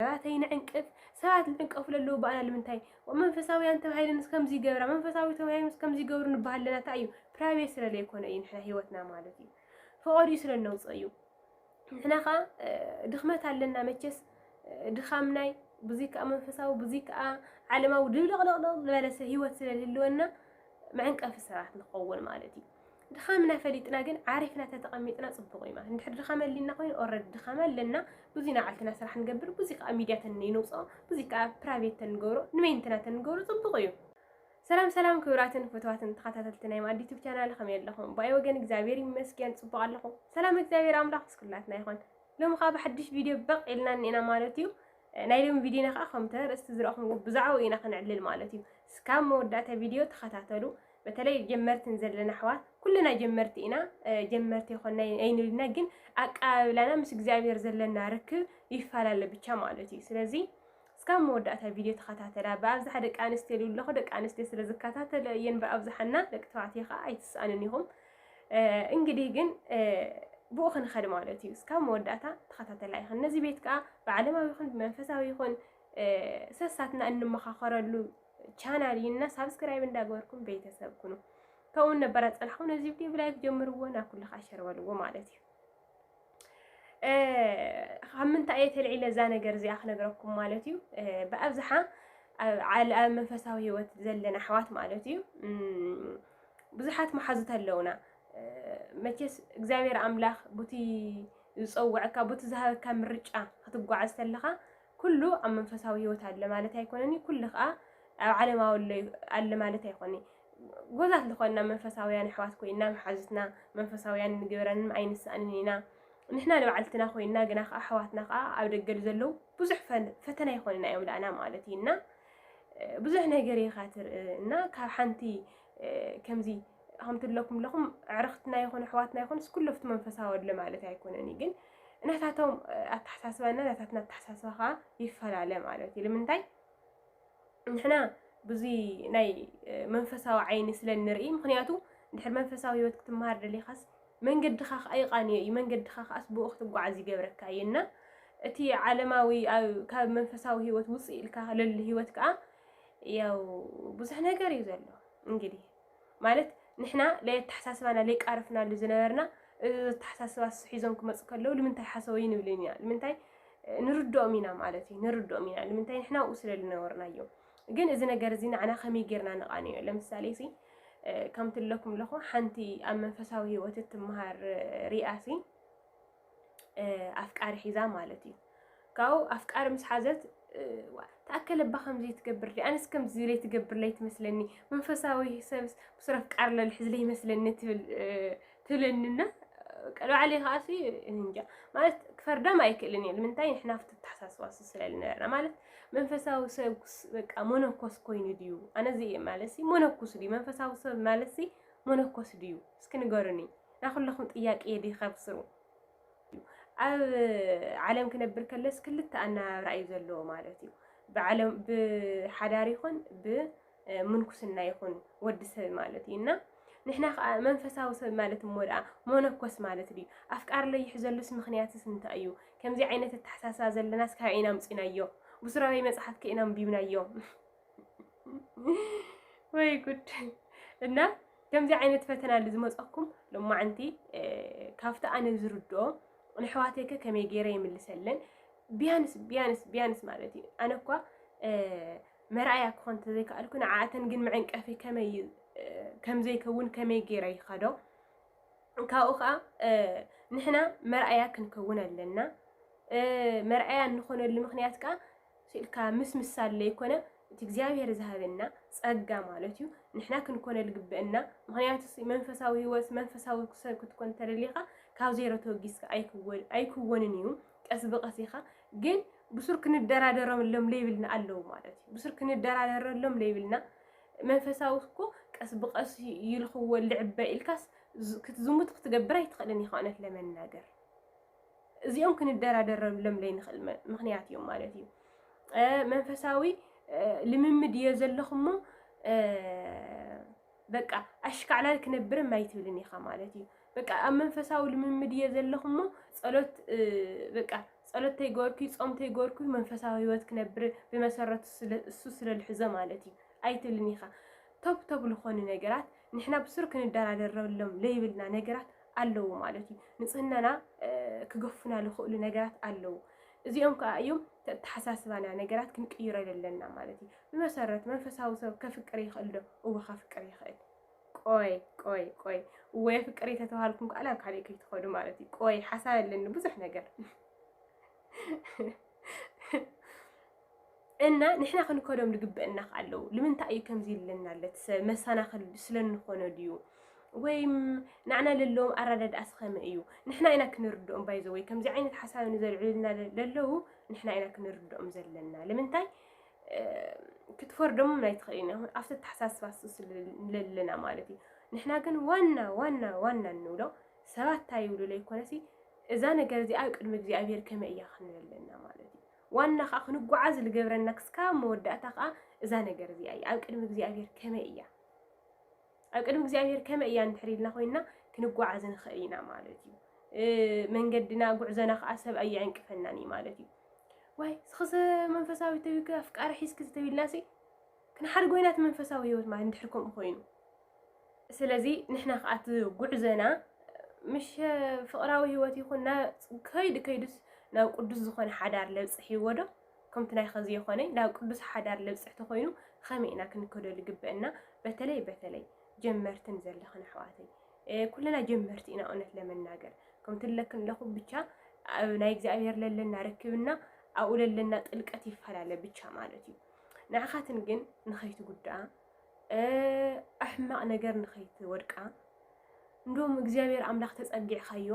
ሰባተይ ንዕንቅፍ ሰባት ዝዕንቀፉ ለለዉ ባኣና ልምንታይ መንፈሳውያን ተባሂለን ከምዚ ይገብራ መንፈሳዊ ተባሂሎም ከምዚ ይገብሩ ንበሃል ኣለና እንታይ እዩ ፕራይቬት ስለ ዘይኮነ እዩ ንሕና ሂወትና ማለት እዩ ፈቐድኡ ስለ ነውፅእ እዩ ንሕና ከዓ ድኽመት ኣለና መቸስ ድኻም ናይ ብዙይ ከዓ መንፈሳዊ ብዙይ ከዓ ዓለማዊ ድብልቕልቕልቕ ዝበለሰ ሂወት ስለ ዝህልወና መዕንቀፊ ሰባት ንኸውን ማለት እዩ ድኻምና ፈሊጥና ግን ዓሪፍና ተተቐሚጥና ጽቡቕ እዩ ማለት እንድሕር ድኻም ኣሊና ኮይኑ ኦረዲ ድኻም ኣለና ብዙይ ናባዕልትና ስራሕ ንገብር ብዙይ ከዓ ሚድያ ተንይንውፅኦ ብዙይ ከዓ ፕራይቬት ተንገብሮ ንመይንትና ተንገብሮ ጽቡቕ እዩ ሰላም ሰላም ክብራትን ፍትዋትን ተኸታተልቲ ናይ ማዲ ዩቱብ ቻናል ከመይ ኣለኹም ብኣይ ወገን እግዚኣብሔር ይመስገን ጽቡቕ ኣለኹ ሰላም እግዚኣብሔር ኣምላኽ ምስ ኩላትና ይኹን ሎሚ ከዓ ብሓድሽ ቪድዮ በቕ ኢልና እኒና ማለት እዩ ናይ ሎሚ ቪድዮና ከዓ ከምተ ርእስቲ ዝረእኹምዎ ብዛዕባኡ ኢና ክንዕልል ማለት እዩ እስካብ መወዳእታ ቪድዮ ተኸታተሉ በተለይ ጀመርቲ ንዘለና ኣሕዋት ኩልና ጀመርቲ ኢና ጀመርቲ ይኮና ኣይንልና ግን ኣቀባብላና ምስ እግዚኣብሔር ዘለና ርክብ ይፈላለ ብቻ ማለት እዩ ስለዚ እስካብ መወዳእታ ቪድዮ ተኸታተላ ብኣብዝሓ ደቂ ኣንስትዮ ልብሉ ኣለኹ ደቂ ኣንስትዮ ስለ ዝከታተለ እየን ብኣብዝሓና ደቂ ተባዕትዮ ከዓ ኣይትስኣንን ኢኹም እንግዲህ ግን ብኡ ክንኸድ ማለት እዩ እስካብ መወዳእታ ተኸታተላ ይኹን ነዚ ቤት ከዓ ብዓለማዊ ይኹን ብመንፈሳዊ ይኹን ሰሳትና እንመኻኸረሉ ቻናል እና ሳብስክራይብ እንዳገበርኩም ቤተሰብ ኩኑ ከምኡ ነበር ኣፀናሕኹ ነዚ ቪድዮ ብላይክ ጀምርዎ ናብ ኩሉ ከዓ ሸር በልዎ ማለት እዩ ካብ ምንታይ እየ ተልዒለ እዛ ነገር እዚኣ ክነግረኩም ማለት እዩ ብኣብዝሓ ኣብ መንፈሳዊ ህይወት ዘለና ኣሕዋት ማለት እዩ ብዙሓት መሓዙት ኣለውና መቼስ እግዚኣብሔር ኣምላኽ ቡቲ ዝፀውዐካ ቡቲ ዝሃበካ ምርጫ ክትጓዓዝ ተለኻ ኩሉ ኣብ መንፈሳዊ ህይወት ኣለ ማለት ኣይኮነን እዩ ኩሉ ከዓ ኣብ ዓለማዊ ኣለ ማለት ኣይኮነ ጎዛት ዝኾንና መንፈሳውያን ኣሕዋት ኮይና መሓዙትና መንፈሳውያን ንግብረንም ኣይንስኣንን ኢና ንሕና ንባዕልትና ኮይና ግና ከዓ ኣሕዋትና ከዓ ኣብ ደገል ዘለዉ ብዙሕ ፈተና ይኾንና እዮም ዳእና ማለት እዩ እና ብዙሕ ነገር ኢኻ ትርኢ እና ካብ ሓንቲ ከምዚ ከምቲ ኣለኩም ኣለኹም ኣዕርኽትና ይኹን ኣሕዋትና ይኹንስ ኩሉ ኣብቲ መንፈሳዊ ኣለ ማለት ኣይኮነን ግን ናታቶም ኣተሓሳስባና ናታትና ኣተሓሳስባ ከዓ ይፈላለ ማለት እዩ ንምንታይ ንሕና ብዙይ ናይ መንፈሳዊ ዓይኒ ስለ ንርኢ ምክንያቱ ድሕሪ መንፈሳዊ ህይወት ክትመሃር ደሊኻስ መንገድኻ ከዓ ይቃንዮ እዩ መንገድኻ ከዓስ ብኡ ክትጓዓዝ ይገብረካ እዩ እና እቲ ዓለማዊ ካብ መንፈሳዊ ህይወት ውፅእ ኢልካ ለሉ ህይወት ከዓ ያው ብዙሕ ነገር እዩ ዘሎ እንግዲህ ማለት ንሕና ለየተሓሳስባና ለይቃረፍናሉ ዝነበርና እዚ ኣተሓሳስባ እሱ ሒዞም ክመፁ ከለዉ ልምንታይ ሓሰወዩ ንብልን ኢና ልምንታይ ንርድኦም ኢና ማለት እዩ ንርድኦም ኢና ልምንታይ ንሕና ኣብኡ ስለ ዝነበርናዮ ግን እዚ ነገር እዚ ንዓና ከመይ ጌርና ንቓንዮ ለምሳሌ ሲ ከምቲ ኣለኩም ኣለኹ ሓንቲ ኣብ መንፈሳዊ ህይወት እትመሃር ሪኣሲ ኣፍቃሪ ሒዛ ማለት እዩ ካብኡ ኣፍቃሪ ምስ ሓዘት ተኣከለ እባ ከምዚ ትገብር ዲ ኣነስ ከምዚ ዝለይ ትገብርለይ ትመስለኒ መንፈሳዊ ሰብስ ብሱር ኣፍቃሪ ለልሕዝለይ ይመስለኒ ትብል ትብለኒና ቀልባዕለ ከዓ እንጃ ማለት ክፈርዳም ኣይክእልን እየ ንምንታይ ንሕና ፍቲ ተሓሳስባ ስለልነበርና ማለት መንፈሳዊ ሰብ በቃ መነኮስ ኮይኑ ድዩ ኣነዚ ማለት ሲ መነኩስ ድዩ መንፈሳዊ ሰብ ማለት ሲ መነኮስ ድዩ እስኪ ንገሩኒ ናይ ኩላኹም ጥያቄ እዩ ድዩ ካብ ስሩ ኣብ ዓለም ክነብር ከለስ ክልተ ኣነባብራ እዩ ዘለዎ ማለት እዩ። ብዓለም ብሓዳር ይኹን ብምንኩስና ይኹን ወዲ ሰብ ማለት እዩ እና ንሕና ከዓ መንፈሳዊ ሰብ ማለት እሞ ደኣ መነኮስ ማለት ድዩ ኣፍቃሪ ለይሕዘሉስ ምክንያትስ እንታይ እዩ? ከምዚ ዓይነት ኣተሓሳስባ ዘለናስ ካበይ ኢና ኣምፂናዮ? ብሱራበይ መፅሓፍ ከ ኢና ኣንቢብናዮ? ወይ ጉድ እና ከምዚ ዓይነት ፈተና ሉ ዝመፀኩም ሎማዓንቲ ካብቲ ኣነ ዝርድኦ ንሕዋተይከ ከመይ ገይረ ይምልሰለን ቢያንስ ቢያንስ ቢያንስ ማለት እዩ ኣነ እኳ መርኣያ ክኾን ተዘይከኣልኩ ንዓኣተን ግን መዐንቀፊ ከመይ ከምዘይከውን ከመይ ገይረ ይኸዶ ካብኡ ከዓ ንሕና መርኣያ ክንከውን ኣለና መርኣያ እንኾነሉ ምክንያት ከዓ ስኢልካ ምስምሳል ለይኮነ እቲ እግዚኣብሔር ዝሃበና ጸጋ ማለት እዩ ንሕና ክንኮነ ልግበእና ምክንያቱስ መንፈሳዊ ህይወት መንፈሳዊ ሰብ ክትኮን ተደሊካ ካብ ዜሮ ተወጊስካ ኣይክወን ኣይክወንን እዩ ቀስ ብቀስ ኢካ ግን ብሱር ክንደራደረሎም ለይብልና ኣለዉ ማለት እዩ ብሱር ክንደራደረሎም ለይብልና መንፈሳዊ እኮ ቀስ ብቀስ ይልኽዎ ልዕበ ኢልካስ ክትዝሙት ክትገብር ኣይትኽእልን ኢኻ እውነት ለመናገር እዚኦም ክንደራደረሎም ዘይንኽእል ምኽንያት እዮም ማለት እዩ። መንፈሳዊ ልምምድ እየ ዘለኹሞ በቃ ኣሽካዕላል ክነብርም ኣይትብልን ኢኻ ማለት እዩ። በቃ ኣብ መንፈሳዊ ልምምድ እየ ዘለኹሞ ጸሎት በቃ ጸሎት ተይገበርኩ ጾም ተይገበርኩ መንፈሳዊ ህይወት ክነብር ብመሰረቱ እሱ ስለልሕዞ ማለት እዩ ኣይትብልን ኢኻ። ቶብ ቶብ ዝኾኑ ነገራት ንሕና ብሱር ክንደራደረሎም ዘይብልና ነገራት ኣለዉ ማለት እዩ። ንጽህናና ክገፉና ዝኽእሉ ነገራት ኣለዉ። እዚኦም ከዓ እዮም ተተሓሳስባና ነገራት ክንቅይሮ ዘለና ማለት እዩ። ብመሰረት መንፈሳዊ ሰብ ከፍቅር ይኽእል ዶ? እወ ከፍቅር ይኽእል። ቆይ ቆይ ቆይ እወ የፍቅር ተተባሃልኩም ከዓ ናብ ካልእ ከይትኸዱ ማለት እዩ። ቆይ ሓሳብ ኣለኒ ብዙሕ ነገር እና ንሕና ክንከዶም ልግበእና ከ ኣለዉ ልምንታይ እዩ ከምዚ ልለና ለት ሰብ መሳናክል ስለንኾኖ ድዩ ወይም ናዕና ለለዎም ኣራዳድኣ ስኸመ እዩ ንሕና ኢና ክንርድኦም ባይዘ ወይ ከምዚ ዓይነት ሓሳብ ንዘልዕሉልና ለለዉ ንሕና ኢና ክንርድኦም ዘለና ልምንታይ ክትፈርዶምም ኣይትኽእልን ይኹን ኣብቲ ኣተሓሳስባ ስለለና ማለት እዩ ንሕና ግን ዋና ዋና ዋና እንብሎ ሰባት እንታይ ይብሉ ለይኮነሲ እዛ ነገር እዚኣ ቅድሚ እግዚኣብሄር ከመይ እያ ክንብል ኣለና ማለት እዩ ዋና ኸኣ ክንጓዓዝ ልገብረና ክስካብ መወዳእታ ኸኣ እዛ ነገር እዚኣ እያ። ኣብ ቅድሚ እግዚኣብሔር ከመይ እያ? ኣብ ቅድሚ እግዚኣብሔር ከመይ እያ እንድሕር ኢልና ኮይንና ክንጓዓዝ ንኽእል ኢና ማለት እዩ። መንገድና ጉዕዘና ኸኣ ሰብ ኣየዕንቅፈናን እዩ ማለት እዩ። ዋይ ስኽሰ መንፈሳዊ ተብዩከ ኣፍቃሪ ሒዝኪ ተብልናሲ ክንሓድጎ ኢና እቲ መንፈሳዊ ህይወት ማለት እንድሕር ከምኡ ኮይኑ ስለዚ ንሕና ከዓ እቲ ጉዕዘና ምሽ ፍቕራዊ ህይወት ይኹን ከይዱ ከይዱስ ናብ ቅዱስ ዝኾነ ሓዳር ለብፅሕ ይወዶ ከምቲ ናይ ኸዚ የኾነ ናብ ቅዱስ ሓዳር ለብፅሕ ተኾይኑ ኸመይ ኢና ክንከደሉ ግበአና በተለይ በተለይ ጀመርትን ዘለኽን ኣሕዋተይ ኩልና ጀመርቲ ኢና እውነት ለመናገር ከምቲ ለክን ለኹ ብቻ ኣብ ናይ እግዚኣብሔር ለለና ርክብና ኣብኡ ለለና ጥልቀት ይፈላለ ብቻ ማለት እዩ ንዓኻትን ግን ንኸይትጉድኣ ኣሕማቕ ነገር ንኸይትወድቃ እንዶም እግዚኣብሔር ኣምላኽ ተጸጊዕካዮ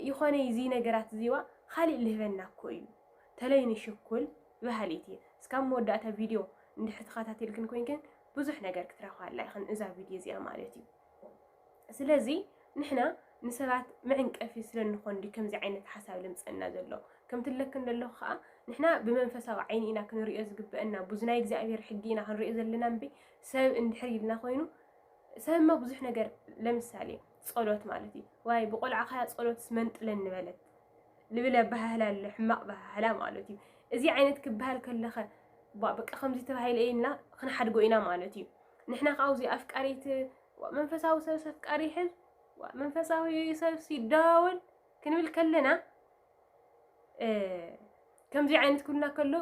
ይኾነ እዚ ነገራት እዚዋ ካሊእ ልህበና እኮ እዩ ተለይ ንሽኩል በሃሊት እየ እስካብ መወዳእታ ቪድዮ እንድሕር ተኸታተልክን ኮይንክን ብዙሕ ነገር ክትረኽባ ኣላ ኢኽን እዛ ቪድዮ እዚኣ ማለት እዩ ስለዚ ንሕና ንሰባት መዕንቀፊ ስለ እንኾን ድዩ ከምዚ ዓይነት ሓሳብ ልምፀና ዘሎ? ከምቲ እብለክን ዘለኹ ከዓ ንሕና ብመንፈሳዊ ዓይኒ ኢና ክንሪኦ ዝግበአና እምቡ እዚ ናይ እግዚኣብሔር ሕጊ ኢና ክንሪኦ ዘለና እምቢ ሰብ እንድሕር ኢልና ኮይኑ ሰብ እማ ብዙሕ ነገር ለምሳሌ ፀሎት ማለት እዩ ዋይ ብቆልዓኻያ ፀሎትስ መንጥለን ንበለት ልብል ኣበሃህላ ኣሎ ሕማቕ በሃህላ ማለት እዩ እዚ ዓይነት ክበሃል ከለኸ በቃ ከምዚ ተባሂለ ኢልና ክንሓድጎ ኢና ማለት እዩ ንሕና ከዓ ኣብዚ ኣፍቃሪት መንፈሳዊ ሰብ ሰፍቃሪ ይሕዝ መንፈሳዊ ሰብ ሲደዋወል ክንብል ከለና ከምዚ ዓይነት ኩልና ከሎ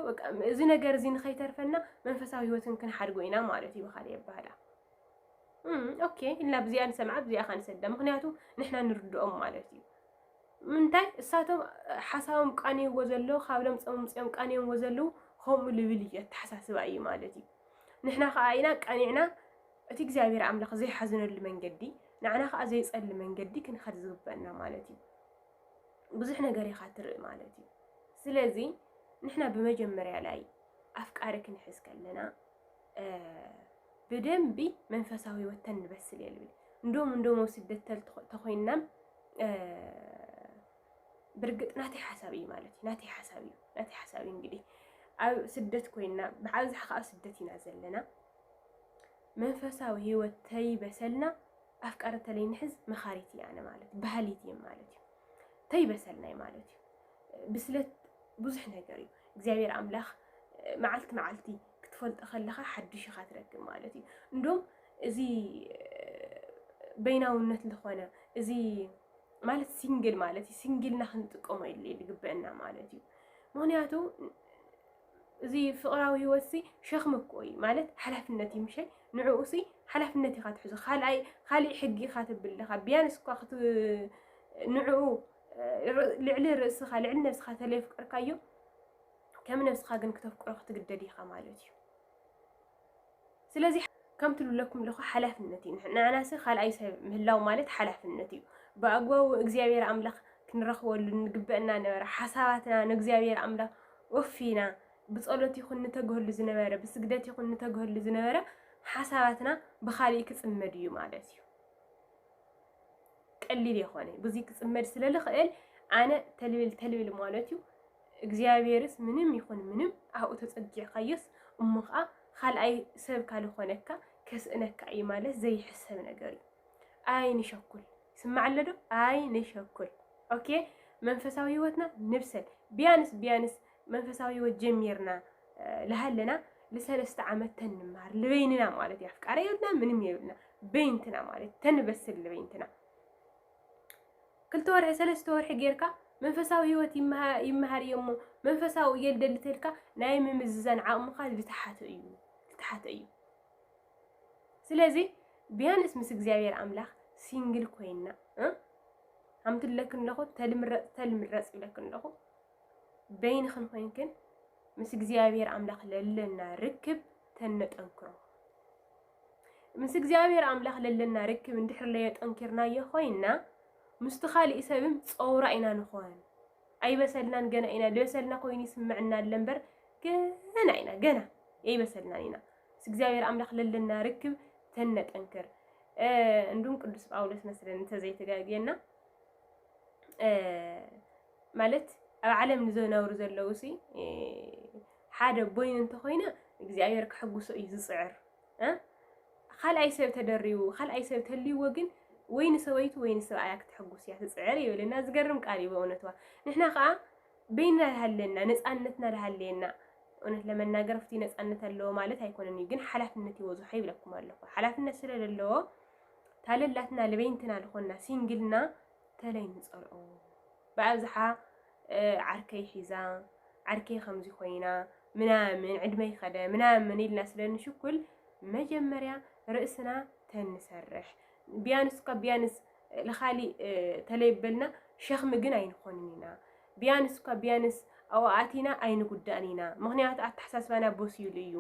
እዚ ነገር እዚ ንኸይተርፈና መንፈሳዊ ህይወትን ክንሓድጎ ኢና ማለት እዩ ብካልእ የባህላ ኦኬ ኢልና ብዚኣ ንሰምዓ ብዚኣ ካ ንሰዳ ምክንያቱ ንሕና ንርድኦም ማለት እዩ ምንታይ እሳቶም ሓሳቦም ቃንየዎ ዘለዉ ካብ ለምፀም ምፅኦም ቃንየምዎ ዘለዉ ከምኡ ልብል እዩ ኣተሓሳስባ እዩ ማለት እዩ ንሕና ከኣ ኢና ቀኒዕና እቲ እግዚኣብሔር ኣምላኽ ዘይሓዝነሉ መንገዲ ንዓና ከኣ ዘይጸሊ መንገዲ ክንኸድ ዝግበእና ማለት እዩ። ብዙሕ ነገር ኢኻ ትርኢ ማለት እዩ። ስለዚ ንሕና ብመጀመርያ ላይ ኣፍቃሪ ክንሕዝ ከለና ብደንቢ መንፈሳዊ ህይወት ተንበስል የልብል እንዶም እንዶሞ ስደት ተኮይንናም ብርግጽ ናተይ ሓሳብ እዩ ማለት እዩ ናተይ ሓሳብ እዩ ናተይ ሓሳብ እዩ እንግዲህ ኣብ ስደት ኮይና ብዓብዝሓ ከዓ ኣብ ስደት ኢና ዘለና መንፈሳዊ ህይወት ተይበሰልና ኣፍቃሪ ተለይ ንሕዝ መኻሪት እያ ኣነ ማለት ባህሊት እየ ማለት እዩ ተይበሰልና እዩ ማለት እዩ ብስለት ብዙሕ ነገር እዩ እግዚኣብሔር ኣምላኽ መዓልቲ መዓልቲ ክትፈልጦ ከለኻ ሓድሽ ኢኻ ትረክብ ማለት እዩ እንዶም እዚ በይናውነት ዝኾነ እዚ ማለት ሲንግል ማለት እዩ ሲንግልና ክንጥቀሞ የድልየ ዝግበአና ማለት እዩ ምክንያቱ እዚ ፍቅራዊ ህይወት ሲ ሸክሚ እኮ እዩ ማለት ሓላፍነት እዩ ምሸ ንዕኡ ሲ ሓላፍነት ኢኻ ትሕዞ ካልኣይ ካሊእ ሕጊ ኢኻ ትብልኻ ቢያንስ እኳ ክት ንዕኡ ልዕሊ ርእስኻ ልዕሊ ነብስኻ ተለየፍቀርካዮ ከም ነብስኻ ግን ክተፍቅሮ ክትግደድ ኢኻ ማለት እዩ ስለዚ ከምቲ ልብለኩም ኣለኹ ሓላፍነት እዩ። ንዓናሰ ካልኣይ ሰብ ምህላው ማለት ሓላፍነት እዩ። ብኣግባቡ እግዚኣብሔር ኣምላኽ ክንረኽበሉ ንግበእና ነበረ። ሓሳባትና ንእግዚኣብሔር ኣምላኽ ወፊና ብጸሎት ይኹን ንተግህሉ ዝነበረ ብስግደት ይኹን ንተግህሉ ዝነበረ ሓሳባትና ብኻሊእ ክጽመድ እዩ ማለት እዩ። ቀሊል የኾነ ብዙይ ክጽመድ ስለልኽእል ኣነ ተልብል ተልብል ማለት እዩ። እግዚኣብሔርስ ምንም ይኹን ምንም ኣብኡ ተጸጊዕካዮስ እሞ ኸኣ ኻልኣይ ሰብ ካልኾነካ ከስእነካ እዩ ማለት ዘይሕሰብ ነገር እዩ። ኣይ ንሸኩል ይስማዕ ኣሎ ዶ? ኣይ ንሸኩል ኦኬ መንፈሳዊ ህይወትና ንብሰል ቢያንስ ቢያንስ መንፈሳዊ ህይወት ጀሚርና ልሃለና ልሰለስተ ዓመት ተንምሃር ልበይንና ማለት እዩ ኣፍቃሪ የብልና ምንም የብልና በይንትና ማለት ተንበስል ልበይንትና ክልተ ወርሒ ሰለስተ ወርሒ ጌርካ መንፈሳዊ ህይወት ይመሃር እየ እሞ መንፈሳዊ እየ ልደሊ ተልካ ናይ ምምዝዛን ዓቕምኻ ዝተሓተ እዩ ዝተሓተ እዩ ስለዚ ቢያንስ ምስ እግዚኣብሔር ኣምላኽ ሲንግል ኮይና ከምቲ ለክን ኣለኹ ተልምረፅ ተልምረፅ ይብለክን ኣለኹ በይንኽን ኮይንክን ምስ እግዚኣብሔር ኣምላኽ ለለና ርክብ ተነጠንክሮ ምስ እግዚኣብሔር ኣምላኽ ለለና ርክብ እንድሕር ለየጠንኪርናዮ ኮይንና ምስቲ ካሊእ ሰብም ፀውራ ኢና ንኾን ኣይበሰልናን ገና ኢና ልበሰልና ኮይኑ ይስምዕና ኣለ እምበር ገና ኢና ገና የይበሰልናን ኢና ምስ እግዚኣብሔር ኣምላኽ ለለና ርክብ ተነጠንክር እንዱም ቅዱስ ጳውሎስ መስለን እንተዘይተጋግየና ማለት ኣብ ዓለም ንዘነብሩ ዘለዉ ሲ ሓደ ቦይኑ እንተኾይነ እግዚኣብሔር ከሕጉሶ እዩ ዝፅዕር እ ኻልኣይ ሰብ ተደሪቡ ኻልኣይ ሰብ ተልይዎ ግን ወይ ንሰበይቱ ወይ ንሰብኣያ ክትሕጉስ እያ ትፅዕር እዩ በለና ዝገርም ቃል እዩ በእውነትዋ ንሕና ከዓ በይንና ዝሃለና ነፃነትና ዝሃለየና እውነት ለመናገር ፍቲ ነፃነት ኣለዎ ማለት ኣይኮነን እዩ ግን ሓላፍነት ይወዝሖ ይብለኩም ኣለኹ ሓላፍነት ስለዘለዎ ታለላትና ለበይንትና ዝኾና ሲንግልና ተለይ ንጸልኦ ብኣብዝሓ ዓርከይ ሒዛ ዓርከይ ከምዚ ኮይና ምናምን ዕድመይ ከደ ምናምን ኢልና ስለ ንሽኩል መጀመርያ ርእስና ተንሰርሕ ቢያንስ እኳ ቢያንስ ልኻሊ ተለይ በልና ሸኽሚ ግን ኣይንኾንን ኢና ቢያንስ እኳ ቢያንስ ኣዋኣቲና ኣይንጉዳእን ኢና ምክንያቱ ኣተሓሳስባና በሲሉ እዩ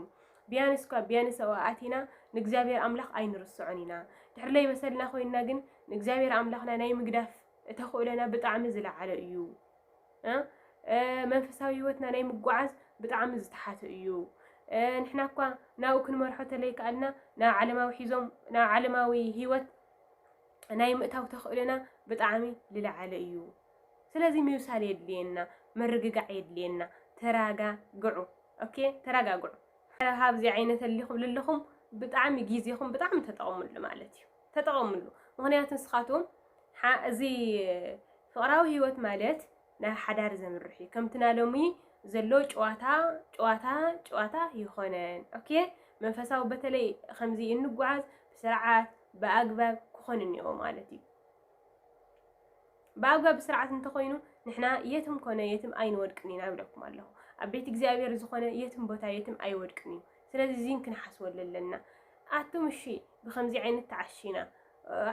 ቢያንስ እኳ ቢያንስ ኣዋኣቲና ንእግዚኣብሔር ኣምላኽ ኣይንርስዖን ኢና ድሕር ለይ በሰልና ኮይንና ግን ንእግዚኣብሔር ኣምላኽና ናይ ምግዳፍ ተኽእሎና ብጣዕሚ ዝለዓለ እዩ። መንፈሳዊ ህይወትና ናይ ምጓዓዝ ብጣዕሚ ዝተሓተ እዩ። ንሕና እኳ ናብኡ ክንመርሖ ተለይከኣልና ናብ ዓለማዊ ሒዞም ናብ ዓለማዊ ህይወት ናይ ምእታው ተኽእሎና ብጣዕሚ ዝለዓለ እዩ። ስለዚ ምብሳል የድልየና፣ ምርግጋዕ የድልየና። ተራጋግዑ ኦኬ፣ ተረጋግዑ። ካብዚ ዓይነት እሊ ክብሉ ኣለኹም ብጣዕሚ ግዜኹም ብጣዕሚ ተጠቕሙሉ ማለት እዩ። ተጠቐምሉ። ምኽንያቱ ንስኻትኩም እዚ ፍቕራዊ ህይወት ማለት ናብ ሓዳር ዘምርሕ እዩ። ከምቲ ናይ ሎሚ ዘሎ ጨዋታ ጨዋታ ጨዋታ ይኾነን። ኦኬ መንፈሳዊ በተለይ ከምዚ እንጓዓዝ ብስርዓት ብኣግባብ ክኾን እኒኦ ማለት እዩ። ብኣግባብ ብስርዓት እንተኾይኑ ንሕና የትም ኮነ የትም ኣይንወድቅን ኢና ብለኩም ኣለኹ። ኣብ ቤት እግዚኣብሔር ዝኾነ የትም ቦታ የትም ኣይወድቅን እዩ። ስለዚ እዚን ክንሓስበሉ ኣለና። ኣቱም እሺ ብከምዚ ዓይነት ተዓሺና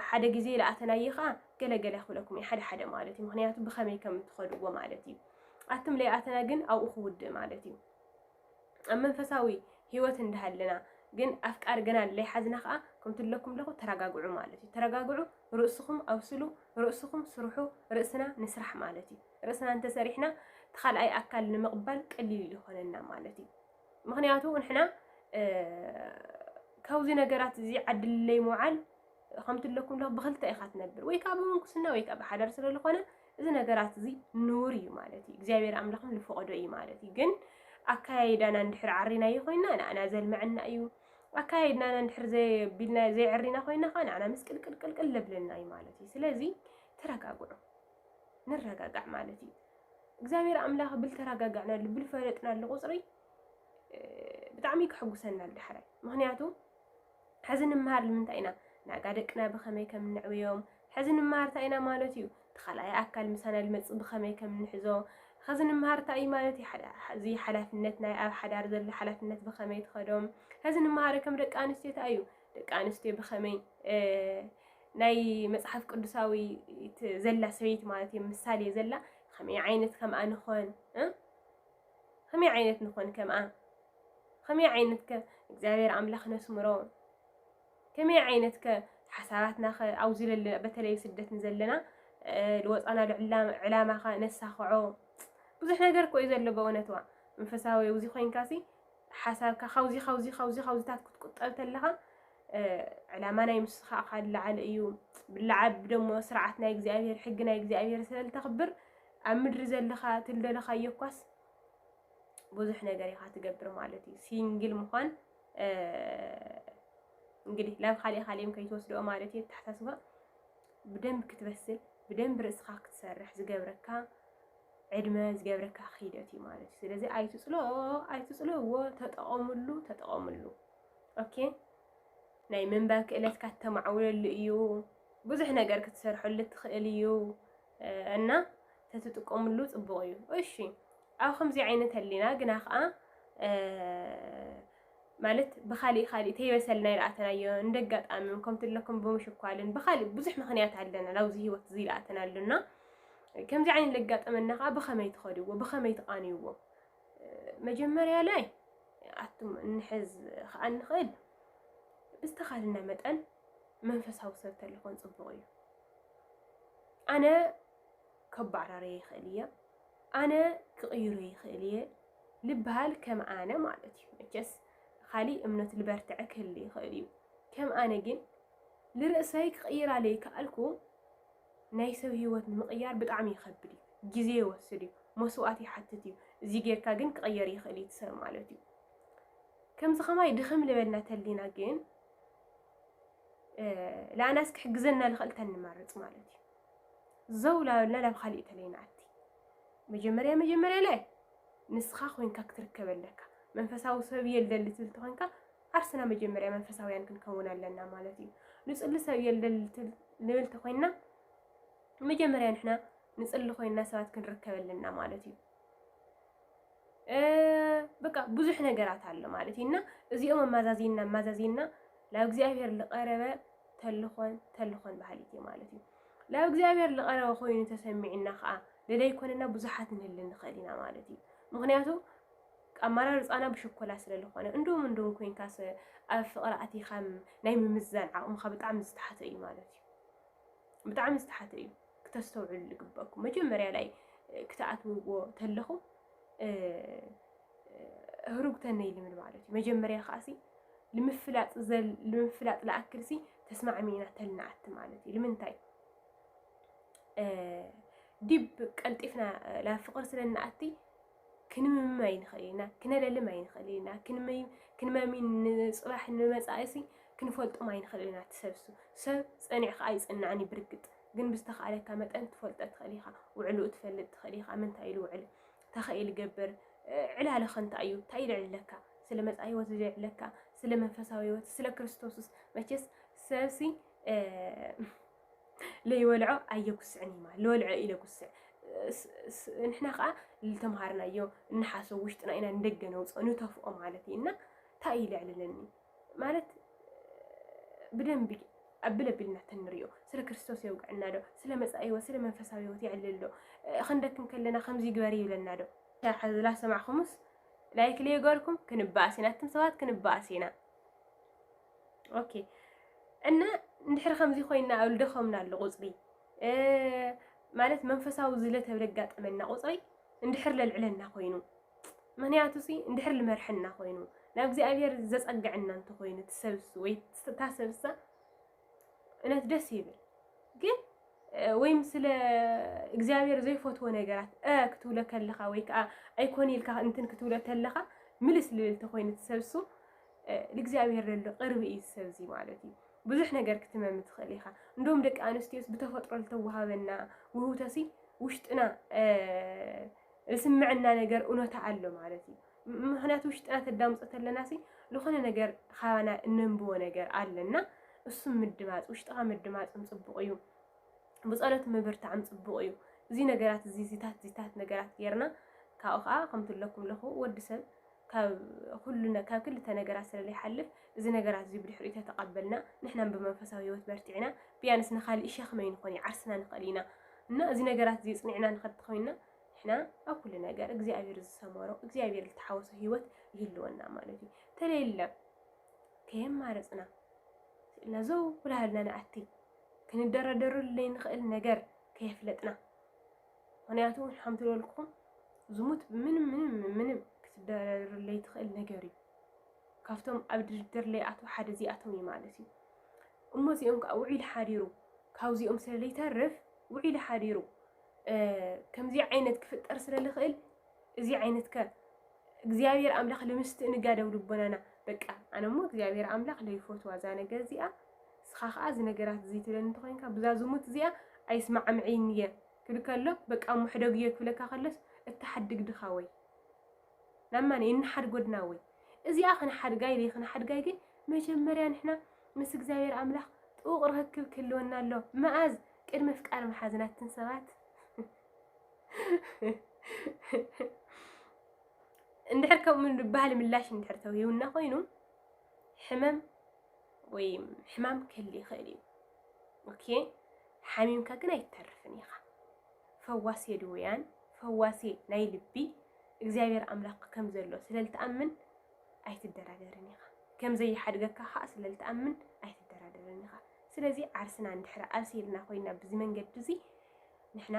ሓደ ግዜ ለኣተናዮ ከዓ ገለገለ ክብለኩም እዩ ሓደ ሓደ ማለት እዩ ምክንያቱ ብከመይ ከም እትኸድዎ ማለት እዩ ኣቱም ለይኣተና ግን ኣብኡ ክውድእ ማለት እዩ ኣብ መንፈሳዊ ሂወት እንዳሃለና ግን ኣፍቃሪ ገና ለይሓዝና ከዓ ከምቲ ለኩም ለኹ ተረጋግዑ ማለት እዩ ተረጋግዑ ርእስኹም ኣብስሉ ርእስኹም ስርሑ ርእስና ንስራሕ ማለት እዩ ርእስና እንተሰሪሕና ተካልኣይ ኣካል ንምቕባል ቀሊል ይኾነና ማለት እዩ ምክንያቱ ንሕና ካብዚ ነገራት እዚ ዓድለይ ምውዓል ከምቲ ኣለኩም ኣለኹ ብክልተ ኢኻ ትነብር ወይ ከዓ ብምንኩስና ወይ ከዓ ብሓዳር ስለ ዝኾነ እዚ ነገራት እዚ ንውር እዩ ማለት እዩ እግዚኣብሔር ኣምላኽም ዝፈቐዶ እዩ ማለት እዩ ግን ኣካያይዳና እንድሕር ዓሪናዮ ኮይና ንኣና ዘልመዐና እዩ ኣካያይድናና እንድሕር ዘቢልና ዘይዕሪና ኮይና ከዓ ንኣና ምስቅልቅልቅልቅል ለብለና እዩ ማለት እዩ ስለዚ ተረጋግዑ ንረጋጋዕ ማለት እዩ። እግዚኣብሔር ኣምላኽ ብልተረጋጋዕናሉ ብልፈለጥናሉ ቁፅሪ ብጣዕሚ ከሐጉሰና ዳሕራይ ምክንያቱ ሕዚ ንምሃር ንምንታይ ኢና ናጋ ደቅና ብኸመይ ከም ንዕብዮም ሕዚ ንምሃር እንታይ ኢና ማለት እዩ እቲ ካልኣይ ኣካል ምሳና ልመፅእ ብኸመይ ከም ንሕዞ ሕዚ ንምሃር እንታይ እዩ ማለት እዚ ሓላፍነት ናይ ኣብ ሓዳር ዘሎ ሓላፍነት ብኸመይ ትኸዶም ሕዚ ንምሃር ከም ደቂ ኣንስትዮ እንታይ እዩ ደቂ ኣንስትዮ ብኸመይ ናይ መፅሓፍ ቅዱሳዊ ዘላ ሰበይቲ ማለት እዩ ምሳሌ ዘላ ከመይ ዓይነት ከምኣ ንኾን ከመይ ዓይነት ንኾን ከምኣ ከመይ ዓይነት ከ እግዚኣብሔር ኣምላኽ ነስምሮ ከመይ ዓይነት ከ ሓሳባትና ከ ኣብዚ ለለና በተለይ ስደት ንዘለና ዝወፃና ዕላማ ከ ነሳኽዖ ብዙሕ ነገር እኮ እዩ ዘሎ በእውነትዋ መንፈሳዊ እዚ ኮይንካሲ ሓሳብካ ካብዚ ካብዚ ካብዚ ካብዚታት ክትቁጠብ ተለኻ ዕላማ ናይ ምስኻ እኻ ዝለዓለ እዩ ብለዓብ ደሞ ስርዓት ናይ እግዚኣብሔር ሕጊ ናይ እግዚኣብሔር ስለልተኽብር ኣብ ምድሪ ዘለኻ ትልደለኻዮ እኳስ ብዙሕ ነገር ኢኻ ትገብር ማለት እዩ ሲንግል ምዃን እንግዲህ ላብ ካሊእ ካሊእም ከይትወስድኦ ማለት እዩ ተሓሳስባ ብደንብ ክትበስል ብደንብ ርእስኻ ክትሰርሕ ዝገብረካ ዕድመ ዝገብረካ ክይደት እዩ ማለት እዩ ስለዚ ኣይትፅሎ ኣይትፅልዎ ተጠቐምሉ ተጠቐምሉ ኦኬ ናይ ምንባብ ክእለትካ ተማዕውለሉ እዩ ብዙሕ ነገር ክትሰርሐሉ ትኽእል እዩ እና ተትጥቀምሉ ፅቡቕ እዩ እሺ ኣብ ከምዚ ዓይነት ኣሊና ግና ከዓ ማለት ብኻሊእ ኻሊእ ተይበሰልና ይልኣተናዮ እንደጋጣሚ ከምቲ ለኩም ብምሽኳልን ብኻሊእ ብዙሕ ምኽንያት ኣለና ናብዚ ህይወት እዚ ይልኣተናሉና ከምዚ ዓይነት ለጋጠመና ከዓ ብኸመይ ትኸድዎ ብኸመይ ትቃንይዎ መጀመርያ ላይ ኣቱም እንሕዝ ከዓ ንኽእል ብዝተኻልና መጠን መንፈሳዊ ሰብ ተለኾን ፅቡቕ እዩ ኣነ ከባራረየ ይኽእል እየ ኣነ ክቕይሮ ይኽእል እየ ልበሃል ከም ኣነ ማለት እዩ መቸስ ኻሊእ እምነት ልበርትዐ ክህሊ ይኽእል እዩ ከም ኣነ ግን ልርእሰይ ክቕይራ ለይከኣልኩ ናይ ሰብ ህይወት ንምቕያር ብጣዕሚ ይኸብድ እዩ ግዜ ይወስድ እዩ መስዋእት ይሓትት እዩ እዚ ጌርካ ግን ክቐየር ይኽእል እዩ ትሰብ ማለት እዩ ከምዚ ከማይ ድኽም ልበልና ተሊና ግን ለኣናስ ክሕግዘና ልኽእል ተንመርፅ ማለት እዩ ዘው ላበልና ናብ ካሊእ ተለይ ንኣቲ መጀመርያ መጀመርያ ላይ ንስኻ ኮይንካ ክትርከብ ኣለካ መንፈሳዊ ሰብ እየ ልደሊ ትብል ተኾይንካ ዓርስና መጀመርያ መንፈሳውያን ክንከውን ኣለና ማለት እዩ ንፅሊ ሰብ እየ ልደሊ ንብል ተኾይንና መጀመርያ ንሕና ንፅሊ ኮይንና ሰባት ክንርከብ ኣለና ማለት እዩ በቃ ብዙሕ ነገራት ኣሎ ማለት እዩ እና እዚኦም ኣማዛዚና ኣማዛዚና ናብ እግዚኣብሔር ዝቐረበ ተልኾን ተልኾን ባህሊት እዩ ማለት እዩ ናብ እግዚኣብሔር ዝቐረበ ኮይኑ ተሰሚዕና ከዓ ደደይ ኮንና ብዙሓት ንህሊ ንኽእል ኢና ማለት እዩ ምክንያቱ ኣመራርፃና ብሽኮላ ስለ ዝኾነ እንዶም እንዶም ኮንካስ ኣብ ፍቕሪ ኣቲኻ ናይ ምምዛን ዓቕምኻ ብጣዕሚ ዝተሓተ እዩ ማለት እዩ ብጣዕሚ ዝተሓተ እዩ ክተስተውዕሉ ዝግበኩም መጀመርያ ላይ ክትኣትውዎ ተለኹም ህሩግተነ ይልምን ማለት እዩ መጀመርያ ከዓሲ ንምፍላጥ ንምፍላጥ ለኣክልሲ ተስማዕሚና ተልናኣት ማለት እዩ ልምንታይ ዲብ ቀልጢፍና ላብ ፍቅር ስለናኣቲ ክንምም ኣይንኽእል ኢና፣ ክነለልም ኣይንኽእል ኢና፣ ክንመሚ ንፅባሕ ንመፃኢሲ ክንፈልጦም ኣይንኽእል ኢና እቲ ሰብሱ። ሰብ ፀኒዕካ ኣይፅናዕን እዩ ብርግፅ ግን ብዝተኽኣለካ መጠን ትፈልጦ ትኽእል ኢኻ፣ ውዕልኡ ትፈልጥ ትኽእል ኢኻ፣ መን እንታይ ኢሉ ውዕል ተኸኢ ልገብር ዕላለ ከንታ እዩ እንታይ ልዕልለካ ስለ መፃኢ ህይወት ዝልዕለካ ስለ መንፈሳዊ ህይወት ስለ ክርስቶስስ መቼስ ሰብሲ ለይወልዖ ኣየጉስዕን እዩ ማለት ለወልዖ እዩ ለጉስዕ ንሕና ከዓ ዝተምሃርናዮ እንሓሶ ውሽጥና ኢና ንደገ ነውፅኦ ንተፍኦ ማለት እዩ እና እንታይ እዩ ልዕልለኒ ማለት ብደንቢ ኣብል ኣቢልና ተንሪኦ ስለ ክርስቶስ የውግዕና ዶ ስለ መፃኢ ህይወት ስለ መንፈሳዊ ህይወት የዕልል ዶ ክንደክም ከለና ከምዚ ግበሪ ይብለና ዶ ዝላ ሰማዕኹምስ ላይክ ለየገርኩም ክንበኣስ ኢና እትም ሰባት ክንበኣስ ኢና ኦኬ እና እንድሕር ከምዚ ኮይና ኣብ ልደኸምና ኣሎ ቁፅሪ ማለት መንፈሳዊ ዝለ ተብለ ኣጋጠመና ቁፅሪ እንድሕር ለልዕለና ኮይኑ ምክንያቱ ሲ እንድሕር ልመርሐና ኮይኑ ናብ እግዚኣብሔር ዘፀግዐና እንተኮይኑ ትሰብስ ወይ ታሰብሳ እነት ደስ ይብል ግን ወይም ስለ እግዚኣብሔር ዘይፈትዎ ነገራት እ ክትብሎ ከለኻ ወይ ከዓ ኣይኮን ኢልካ እንትን ክትብሎ ከለኻ ምልስ ልብል ተኮይኑ ትሰብሱ ንእግዚኣብሄር ለሎ ቅርብ እዩ እዚ ሰብ እዚ ማለት እዩ ብዙሕ ነገር ክትመሚ ትኽእል ኢኻ እንዶም ደቂ ኣንስትዮስ ብተፈጥሮ ዝተዋሃበና ውህውተሲ ውሽጥና ዝስምዐና ነገር እውነታ ኣሎ ማለት እዩ ምክንያቱ ውሽጥና ተዳምፆ ተለና ሲ ዝኾነ ነገር ካባና እነንብቦ ነገር ኣለና እሱም ምድማፅ ውሽጥኻ ምድማፅም ፅቡቕ እዩ ብፀሎት ምብርታዕም ፅቡቕ እዩ እዚ ነገራት እዚ ዚታት ዚታት ነገራት ጌርና ካብኡ ከዓ ከምትለኩም ለኹ ወዲ ሰብ ካብ ኩሉ ነ ካብ ክልተ ነገራት ስለ ዘይሓልፍ እዚ ነገራት እዚ ብድሕሪኡ ተተቀበልና ንሕናም ብመንፈሳዊ ሂወት በርቲዕና ቢያንስ ንካሊእ ሸክሚ ኣይንኮን እዩ ዓርስና ንክእል ኢና እና እዚ ነገራት እዚ ጽኒዕና ንከድ ተኮይንና ንሕና ኣብ ኩሉ ነገር እግዚኣብሔር ዝሰመሮ እግዚኣብሔር ዝተሓወሶ ሂወት ይህልወና ማለት እዩ ተለየለ ከየማረጽና ስእልና ዘው ኩላህልና ንኣቲ ክንደረደረሉ ዘይንክእል ነገር ከየፍለጥና ምክንያቱ ሓምቲ በልኩም ዝሙት ምንም ምንም ምንም ክትደረርለይ ትኽእል ነገር እዩ ካብቶም ኣብ ድርድር ለይኣትዉ ሓደ እዚኣቶም እዩ ማለት እዩ እሞ እዚኦም ከዓ ውዒሉ ሓዲሩ ካብዚኦም ስለ ለይተርፍ ውዒሉ ሓዲሩ ከምዚ ዓይነት ክፍጠር ስለ ልኽእል እዚ ዓይነት ከ እግዚኣብሔር ኣምላኽ ልምስትእንጋደው ልቦናና በቃ ኣነ እሞ እግዚኣብሔር ኣምላኽ ለይፈትዋ እዛ ነገር እዚኣ ንስኻ ከኣ እዚ ነገራት እዚ ትብለኒ እንተኾይንካ ብዛ ዝሙት እዚኣ ኣይስማዕምዕይን እየ ክብል ከሎ በቃ እሞ ሕደግዮ ክብለካ ከሎስ እትሓድግ ድኻወይ ናብ መን እየ እንሓድግ ወድናወይ እዚኣ ክንሓድጋ ኢለይ ክንሓድጋ ግን መጀመርያ ንሕና ምስ እግዚኣብሔር ኣምላኽ ጥቡቕ ርኽክብ ክህልወና ኣሎ መኣዝ ቅድሚ ፍቃር መሓዝና እትን ሰባት እንድሕር ከምኡ ባህል ምላሽ እንድሕር ተውሂቡና ኮይኑ ሕመም ወይ ሕማም ክህል ይኽእል እዩ ኦኬ ሓሚምካ ግን ኣይተርፍን ኢኻ ፈዋሴ ድውያን ፈዋሴ ናይ ልቢ እግዚኣብሔር ኣምላኽ ከም ዘሎ ስለልትኣምን ኣይትደራደርን ኢኻ ከም ዘይሓድገካ ከዓ ስለልትኣምን ኣይትደራደርን ኢኻ ስለዚ ዓርስና እንድሕሪ ኣርሲልና ኮይና ብዚ መንገዲ እዚ ንሕና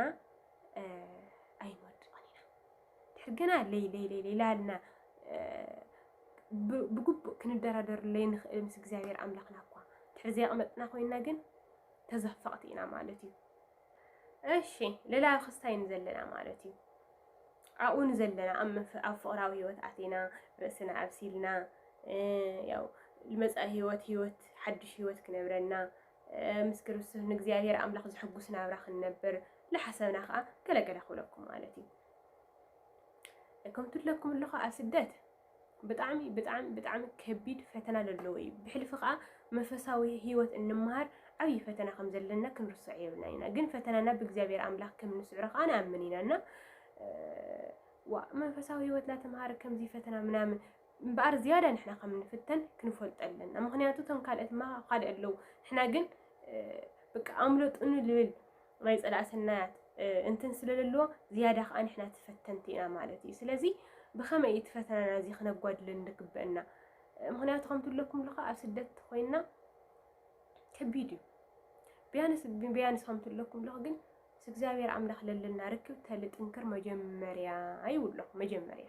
ኣይንወድቕን ኢና ድሕር ግና ለይ ለይ ለይ ላልና ብግቡእ ክንደራደር ለይንኽእል ምስ እግዚኣብሔር ኣምላኽና እኳ ድሕር ዘይቐመጥና ኮይና ግን ተዘፈቕቲ ኢና ማለት እዩ። እሺ ሌላ ክስታይ ንዘለና ማለት እዩ ኣብኡ ንዘለና ኣብ ፍቕራዊ ህይወት ኣቴና ርእስና ኣብሲልና ያው ልመፃኢ ህይወት ህይወት ሓድሽ ህይወት ክነብረና ምስ ክርስቶስ ንእግዚኣብሔር ኣምላኽ ዘሕጉስ ናብራ ክንነብር ዝሓሰብና ከዓ ገለገለ ክብለኩም ማለት እዩ እኩም ትለኩም ኣለኹ ኣብ ስደት ብጣዕሚ ብጣዕሚ ብጣዕሚ ከቢድ ፈተና ዘለዎ እዩ ብሕልፊ ከዓ መንፈሳዊ ህይወት እንመሃር ዓብዪ ፈተና ከም ዘለና ክንርሶዕ የብልና ኢና ግን ፈተናና ብእግዚኣብሔር ኣምላኽ ከም ንስዕሮ ከዓ ንኣምን ኢና እና መንፈሳዊ ህይወትና ተምሃር ከምዚ ፈተና ምናምን እምበኣር ዝያዳ ንሕና ከም ንፍተን ክንፈልጦ ኣለና ምክንያቱ እቶም ካልኦት እማ ካልእ ኣለዉ ንሕና ግን ብቃ ኣምለጡኒ ልብል ናይ ጸላእ ሰናያት እንትን ስለ ዘለዎ ዝያዳ ከዓ ንሕና ተፈተንቲ ኢና ማለት እዩ ስለዚ ብኸመይ እዩ ትፈተናና እዚ ክነጓድለን ንግበአና ምክንያቱ ከምቲ ኣለኩም ኣለካ ኣብ ስደት ኮይና ከቢድ እዩ ቢያንስ ቢያንስ ከምቲ ኣለኩም ኣለኩ ግን ምስ እግዚኣብሔር ኣምላኽ ለለና ርክብ ተልጥንክር መጀመርያ ይብሎ መጀመርያ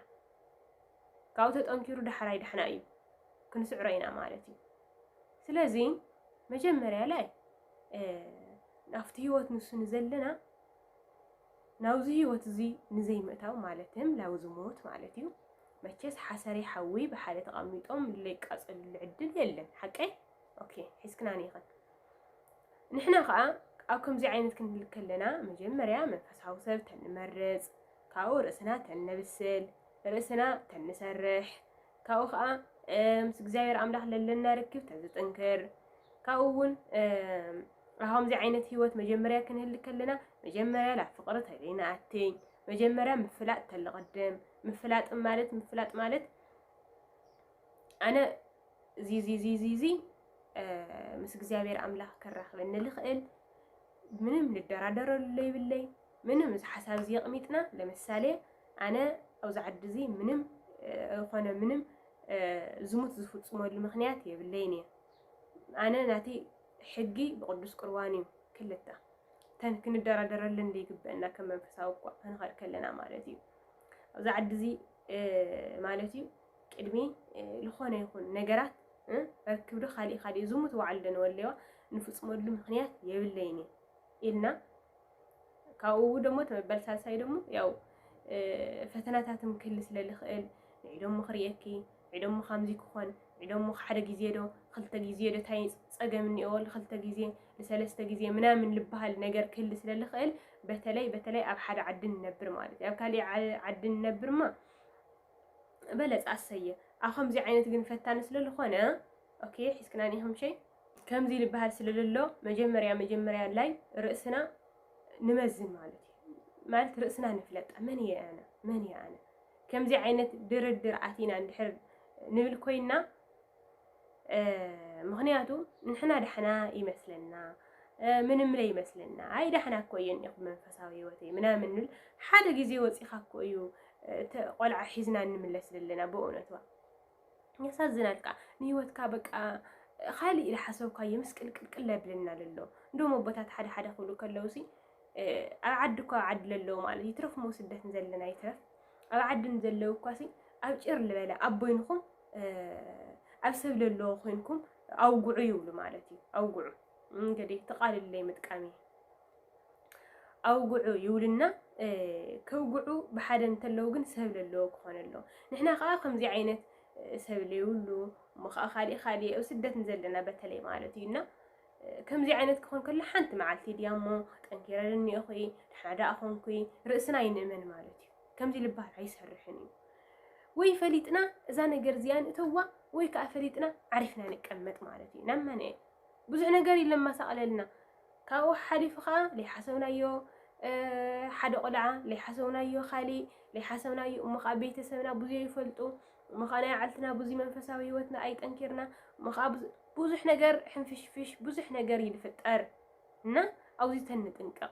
ካብኡ ተጠንኪሩ ዳሕራይ ዳሕና እዩ ክንስዕሮ ኢና ማለት እዩ ስለዚ መጀመርያ ላይ ናብቲ ህይወት ንሱ ንዘለና ናብዚ ህይወት እዚ ንዘይምእታው ማለትም ናብዚ ሞት ማለት እዩ መቸስ ሓሰሪ ሓዊ ብሓደ ተቐሚጦም ለይቃፀልሉ ዕድል የለን ሓቀይ ኦኬ ሒዝክና ንይኸን ንሕና ከዓ ኣብ ከምዚ ዓይነት ክንብል ከለና መጀመርያ መንፈሳዊ ሰብ ተንመርፅ ካብኡ ርእስና ተነብስል፣ ርእስና ተንሰርሕ፣ ካብኡ ኸኣ ምስ እግዚኣብሔር ኣምላኽ ለለና ርክብ ተዝጥንክር፣ ካብኡ እውን ከምዚ ዓይነት ህይወት መጀመርያ ክንህሊ ከለና መጀመርያ ናብ ፍቕሪ ተደይንኣቲ መጀመርያ ምፍላጥ ተልቕድም ምፍላጥ ማለት ምፍላጥ ማለት ኣነ እዚ እዚ እዚ እዚ እዚ ምስ እግዚኣብሔር ኣምላኽ ከራኽበኒ ልኽእል ምንም ልደራደረሉ ለይብለይ ምንም እዚ ሓሳብ እዚ የቕሚጥና ለምሳሌ ኣነ ኣብዚ ዓዲ እዚ ምንም ዝኾነ ምንም ዝሙት ዝፍፅመሉ ምኽንያት የብለይን እየ ኣነ ናተይ ሕጊ ብቅዱስ ቁርባን እዩ ክልተ ተን ክንደራደረለን ዘይግበአና ከም መንፈሳዊ እኳ ክንኸድ ከለና ማለት እዩ ኣብዚ ዓዲ እዚ ማለት እዩ ቅድሚ ዝኾነ ይኹን ነገራት ርክብ ዶ ካሊእ ካሊእ ዝሙት ባዕሉ ዶ ንወለዋ ንፍፅመሉ ምክንያት የብለይን ኢልና ካብኡ ደሞ ተበበል ሳልሳይ ደሞ ያው ፈተናታት ምክሊ ስለ ዝኽእል ንዒ ደሞ ክርእየኪ ንዒ ደሞ ከምዚ ክኾን ንዒ ደሞ ሓደ ግዜ ዶ ክልተ ግዜ ዶ እንታይ ፀገም እኒኦ ንክልተ ግዜ ንሰለስተ ግዜ ምናምን ልበሃል ነገር ክህሊ ስለ ዝኽእል በተለይ በተለይ ኣብ ሓደ ዓዲ ንነብር ማለት እዩ ኣብ ካሊእ ዓዲ ንነብርማ በለፅ ኣሰየ ኣብ ከምዚ ዓይነት ግን ፈታኒ ስለ ዝኾነ ኦኬ ሒዝክናኒ ከምሸይ ከምዚ ልበሃል ስለለሎ መጀመርያ መጀመርያ ላይ ርእስና ንመዝን ማለት እዩ ማለት ርእስና ንፍለጣ መን እየ ኣነ መን እየ ኣነ ከምዚ ዓይነት ድርድር ኣቲና እንድሕር ንብል ኮይና ምክንያቱ ንሕና ዳሕና ይመስለና ምንም ላይ ይመስለና ኣይ ዳሕና እኮ እየ እኒኹ መንፈሳዊ ህይወተይ ምናምን ንብል ሓደ ግዜ ወፂኻ እኮ እዩ ቆልዓ ሒዝና እንምለስ ዘለና ብእውነትዋ ያሳዝናል ከዓ ንህይወትካ በቃ ኻሊእ ኢለ ሓሰብካዮ ምስ ቅልቅልቅል ለብለና ለሎ እንዶም ኣቦታት ሓደ ሓደ ክብሉ ከለውሲ ኣብ ዓዲ እኳ ዓዲ ለለዉ ማለት ይትረፍ ሞ ስደት ንዘለና ይትረፍ ኣብ ዓዲ ንዘለዉ እኳሲ ኣብ ጭር ልበለ ኣብ ቦይንኹም ኣብ ሰብ ለለዎ ኮይንኩም ኣውግዑ ይብሉ ማለት እዩ ኣውግዑ እንግዲህ ተቃልለይ ምጥቃሚ ኣውግዑ ይብሉና ከውግዑ ብሓደ እንተለዉ ግን ሰብ ለለዎ ክኾነ ኣለዎ ንሕና ከዓ ከምዚ ዓይነት ሰብ ለይብሉ እሞ ከዓ ካሊእ ካሊእ ኣብ ስደት ንዘለና በተለይ ማለት እዩ እና ከምዚ ዓይነት ክኾን ከሎ ሓንቲ መዓልቲ ድያ እሞ ጠንኪረ እኒኦኹ ድሓ ደኣ ኮንኩ ርእስና ይንእመን ማለት እዩ ከምዚ ልባል ኣይሰርሕን እዩ ወይ ፈሊጥና እዛ ነገር እዚኣ ንእተዋ ወይ ከዓ ፈሊጥና ዓሪፍና ንቀመጥ ማለት እዩ ናመነ ብዙሕ ነገር ይለማሳቕለልና ካብኡ ሓሓሊፉ ከኣ ለይሓሰብናዮ ሓደ ቆልዓ ለይሓሰብናዮ ካሊእ ለይሓሰብናዮ እሞ ከኣ ቤተሰብና ብዙይ ይፈልጡ እሞ ከኣ ናይ ዓልትና ብዙይ መንፈሳዊ ህይወትና ኣይጠንኪርና እሞ ከኣ ብዙሕ ነገር ሕንፍሽፍሽ ብዙሕ ነገር እዩ ዝፍጠር እና ኣብዙይ ተንጥንቀቕ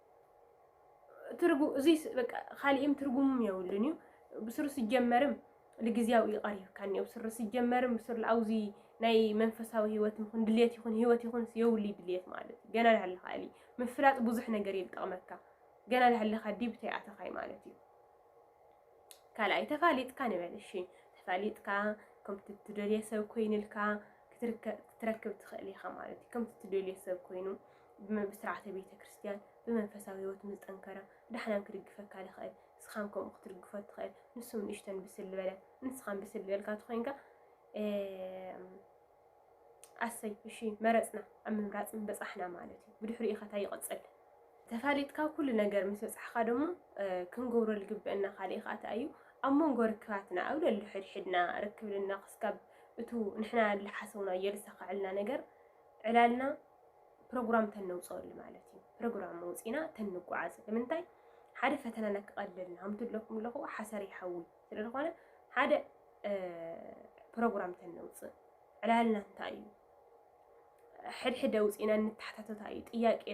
ትርጉ እዙይ በቃ ካሊእም ትርጉምም የብሉን እዩ ብስሩ ስጀመርም ልግዜያዊ እዩ ቀሪብካ እኒኦ ብስሩ ስጀመርም ብስሩ ኣውዚ ናይ መንፈሳዊ ህይወት ይኹን ድሌት ይኹን ህይወት ይኹን የብሉ ድሌት ማለት እዩ ገና ዳሃለኻ እሊ ምፍላጥ ብዙሕ ነገር እዩ ዝጠቕመካ ገና ዳሃለኻ ዲብተይ ኣተኻይ ማለት እዩ ካልኣይ ተፋሊጥካ ንበል እሺ ተፋሊጥካ ከምቲ እትደልዮ ሰብ ኮይኑልካ ክትረክብ ትኽእል ኢኻ ማለት እዩ ከምቲ እትደልዮ ሰብ ኮይኑ ብስርዓተ ቤተ ክርስቲያን ብመንፈሳዊ ህይወት ምስ ጠንከረ ዳሕናን ክድግፈካ ዝኽእል ንስኻን ከምኡ ክትድግፎ ትኽእል ንሱም ንእሽተን ብስል ዝበለ ንስኻን ብስል ዝበልካ ትኾይንካ ኣሰይ እሺ መረጽና ኣብ ምምራጽ ምበጻሕና ማለት እዩ ብድሕሪኡ ከ ታይ ይቅጽል ተፋሊጥካ ኩሉ ነገር ምስ በጻሕካ ደሞ ክንገብሮ ዝግበእና ካልእ ከኣ ታይ እዩ ኣብ መንጎ ርክባትና ኣብ ለሉ ሕድሕድና ርክብልና ክስካብ እቱ ንሕና ዝሓሰብናዮ ዝሳካዕልና ነገር ዕላልና ፕሮግራም ተነውፀሉ ማለት እዩ ፕሮግራም መውፂና ተንጓዓዝ ንምንታይ ሓደ ፈተናና ክቐልልና ከምቲ ኣለኹም ኣለኹ ሓሰር ይሓውይ ስለ ዝኾነ ሓደ ፕሮግራም ተነውፅእ ዕላልና እንታይ እዩ ሕድሕድ ኣውፂእና እንተሓታተታ እዩ ጥያቄ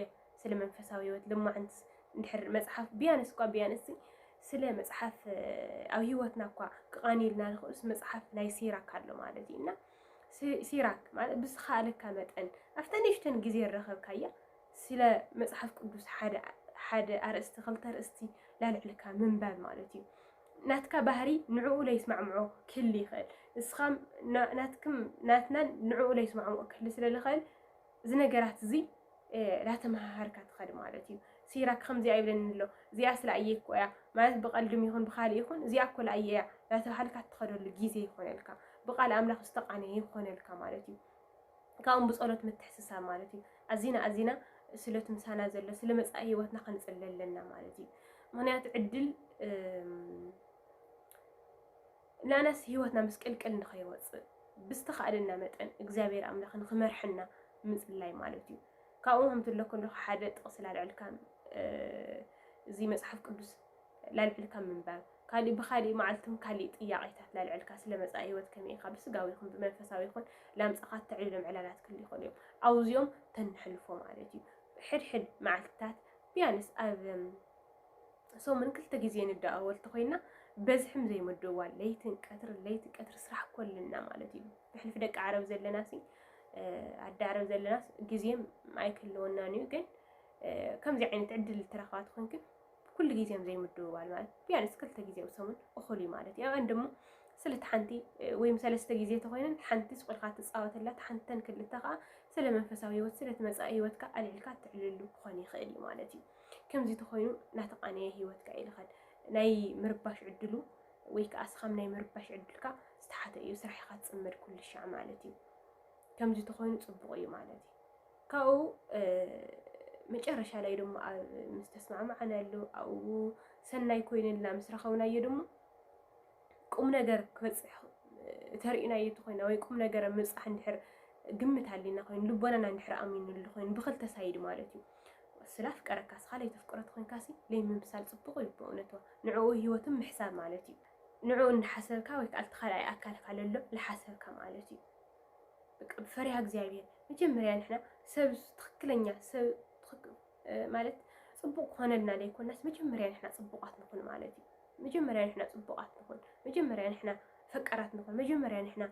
ስለ መንፈሳዊ ህይወት ልማዕንት እንድሕር መፅሓፍ ቢያንስ እኳ ቢያንስ ስለ መፅሓፍ ኣብ ህይወትና እኳ ክቃኒልና ንኽእሉስ መፅሓፍ ናይ ሲራክ ኣሎ ማለት እዩ እና ሲራክ ማለት ብዝኸኣለካ መጠን ኣብታ ንእሽተን ግዜ ረኸብካያ ስለ መጽሓፍ ቅዱስ ሓደ ሓደ ኣርእስቲ ክልተ ኣርእስቲ ላልዕልካ ምንባብ ማለት እዩ። ናትካ ባህሪ ንዕኡ ለይስማዕምዖ ክህሊ ይኽእል። ንስኻ ናትክም ናትናን ንዕኡ ለይስማዕምዖ ክህሊ ስለ ዝኽእል እዚ ነገራት እዚ ላተመሃሃርካ ትኸድ ማለት እዩ። ሲራ ከምዚኣ ይብለኒ ኣሎ እዚኣ ስለ ኣየኮ እያ ማለት ብቐልድም ይኹን ብካልእ ይኹን እዚኣ እኮ ለኣየ እያ ናተባሃልካ ትኸደሉ ግዜ ይኾነልካ። ብቃል ኣምላኽ ዝተቃነየ ይኾነልካ ማለት እዩ። ካብኡም ብጸሎት ምትሕስሳብ ማለት እዩ ኣዚና ኣዚና ስለቲ ምሳና ዘሎ ስለ መጻኢ ህይወትና ክንጽለ ኣለና ማለት እዩ ምክንያቱ ዕድል ናናስ ህይወትና ምስቅልቅል ንኸይወፅእ ብዝተኻእለና መጠን እግዚኣብሔር ኣምላኽ ንክመርሐና ምፅላይ ማለት እዩ ካብኡ ከምትለኩ ሓደ ጥቕሲ ላልዕልካ እዚ መፅሓፍ ቅዱስ ለልዕልካ ምንባብ ካሊእ ብካሊእ መዓልትም ካሊእ ጥያቄታት ለልዕልካ ስለ መፃኢ ህይወት ከመይ ኢካ ብስጋዊ ይኩን ብመንፈሳዊ ይኩን ላምፃካ ተዕልሎም ዕላላት ክህሉ ይክእሉ እዮም ኣውዚኦም ተንሕልፎ ማለት እዩ ሕድሕድ መዓልትታት ቢያንስ ኣብ ሰሙን ክልተ ግዜ ንደኣወል ተኮይና በዝሕም ዘይምድዋል ለይትን ቀትሪ ለይቲ ቀትሪ ስራሕ ኮልና ማለት እዩ ብሕልፊ ደቂ ዓረብ ዘለና ሲ ኣደ ዓረብ ዘለና ግዜም ኣይክህልወናን እዩ ግን ከምዚ ዓይነት ዕድል ተረክባት ኮንክን ኩሉ ግዜ እዮም ዘይምድውዋል ማለት ቢያንስ ክልተ ግዜ ኣብ ሰሙን እኹል እዩ ማለት እዩ ኣብአን ድማ ስለቲ ሓንቲ ወይም ሰለስተ ግዜ ተኮይነን ሓንቲ ስቁልካ ትፃወተላ ሓንተን ክልተ ከዓ ስለ መንፈሳዊ ህይወት ስለቲ መፃኢ ህይወትካ ኣልዕልካ ትዕልሉ ክኾን ይኽእል እዩ ማለት እዩ ከምዚ ተኮይኑ ናተቃነየ ህይወትካ ይልኸል ናይ ምርባሽ ዕድሉ ወይ ከዓ ስኻም ናይ ምርባሽ ዕድልካ ዝተሓተ እዩ ስራሕካ ትፅመድ ኩልሻዕ ማለት እዩ ከምዚ ተኮይኑ ፅቡቅ እዩ ማለት እዩ ካብኡ መጨረሻ ላይ ድማ ምስ ተስማዕማዕናሉ ኣብኡ ሰናይ ኮይንልና ምስ ረኸብናዮ ድማ ቁም ነገር ክበፅሕ ተርእናዮ እንተኮይና ወይ ቁም ነገር ምብፃሕ እንድሕር ግምት ኣሊና ኮይኑ ልቦናና እንድሕር ኣሚንሉ ኮይኑ ብክልተ ሳይድ ማለት እዩ ስላ ፍቀረካ ስኻ ለይተፍቅሮ ተኮንካሲ ለይምምሳል ፅቡቅ እዩ ብእውነቱ ንዕኡ ሂወትን ምሕሳብ ማለት እዩ ንዕኡ እንዳሓሰብካ ወይ ከዓ እቲ ካልኣይ ኣካልካ ለሎ ልሓሰብካ ማለት እዩ በቃ ብፈሪሃ እግዚኣብሔር መጀመርያ ንሕና ሰብ ትኽክለኛ ሰብ ማለት ፅቡቅ ክኾነልና ዘይኮናስ መጀመርያ ንሕና ፅቡቃት ንኹን ማለት እዩ። መጀመርያ ንሕና ፅቡቃት ንኹን፣ መጀመርያ ንሕና ፈቀራት ንኹን፣ መጀመርያ ንሕና